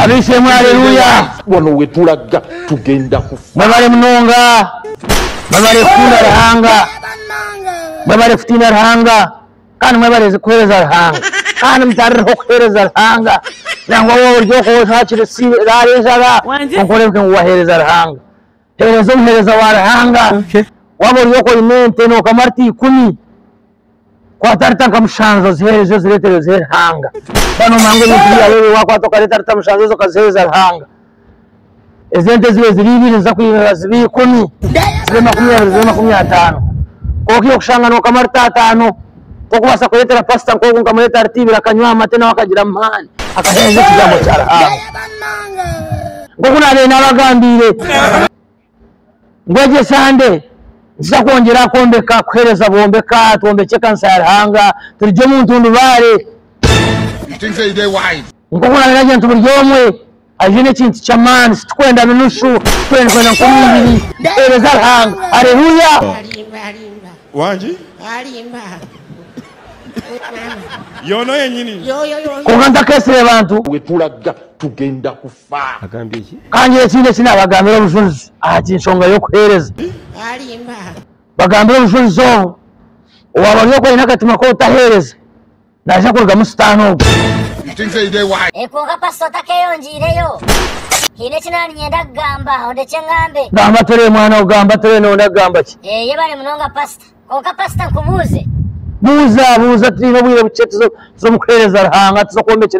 Ab'eishe-emwe, Aleluya! Boona ou turaga tugenda kufa. Mwebale munonga. Mwebale kukunda Ruhanga. Mwebale kutiina Ruhanga. Kandi mwebale kuheereza Ruhanga. Kandi mutarireho kuheereza Ruhanga. Nangwa waaba ori oku, oshakire si, raara enjara, kwonka oreebeke ngu waheereza Ruhanga. Heereza omuheereza wa Ruhanga. Waaba ori oku oine ente nokamwa lita ikumi, kwata lita nka mushanju oziheereze ozireetere ozihe Ruhanga. Shana omuhe ngu ebintu byawe ebyo waakwata okareeta lita mushanju ezo okaziheereza Ruhanga. Ezo ente zibe ziri ibiri niziza kwirira zibe ikumi, zibe makumi abiri zibe makumi ataano. Kwonka iyo okushanga nokamwa lita ataano, Nk'okubaasa kureetera pasita nk'ogwo nkamureeta ahari tiivi akanywa aha mate nawe akagira amaani akaheereza ekigambo kya Ruhanga. Nk'oku naabaire naabagambiire ngu egyo esande nikiija kwongyera kwombeka kuheereza bwombeka twombekye ekanisa ya Ruhanga turigye omu ntundubaare. Nk'oku naabaire nagira nti buri omwe Hariho n'ekintu ky'amaani eki turikwenda noshusha turikwenda nka omubiri. Tuheereza Ruhanga. Haleluya! Alimba, alimba, Wangi? alimba. Yoona yenyini? Yoyo, yoyo. Kwonka ntakeesire bantu. Ahu turaga tugenda kufa. Agambye ki? Ka ngire ekindi eki naabagambira obujurizi aha ky'enshonga y'okuheereza. Alimba. Bagambire obujurizi obu, Owaaba ari okwo aine akatima k'obutaheereza. Naija kurugamu sitaane ogwo. E Kwonka Pastor otakeyongiireyo. Haine eki naaba ninyenda kugamba, ondekye ngambe. Gamba Ture mwana we gamba Ture noyenda kugamba ki? Eeh yebare munonga Pastor. Kwonka Pastor nkubuuze. Buuza buuza turiine obwire bukye tuza tuza omu kuheereza Ruhanga tuza okwombekye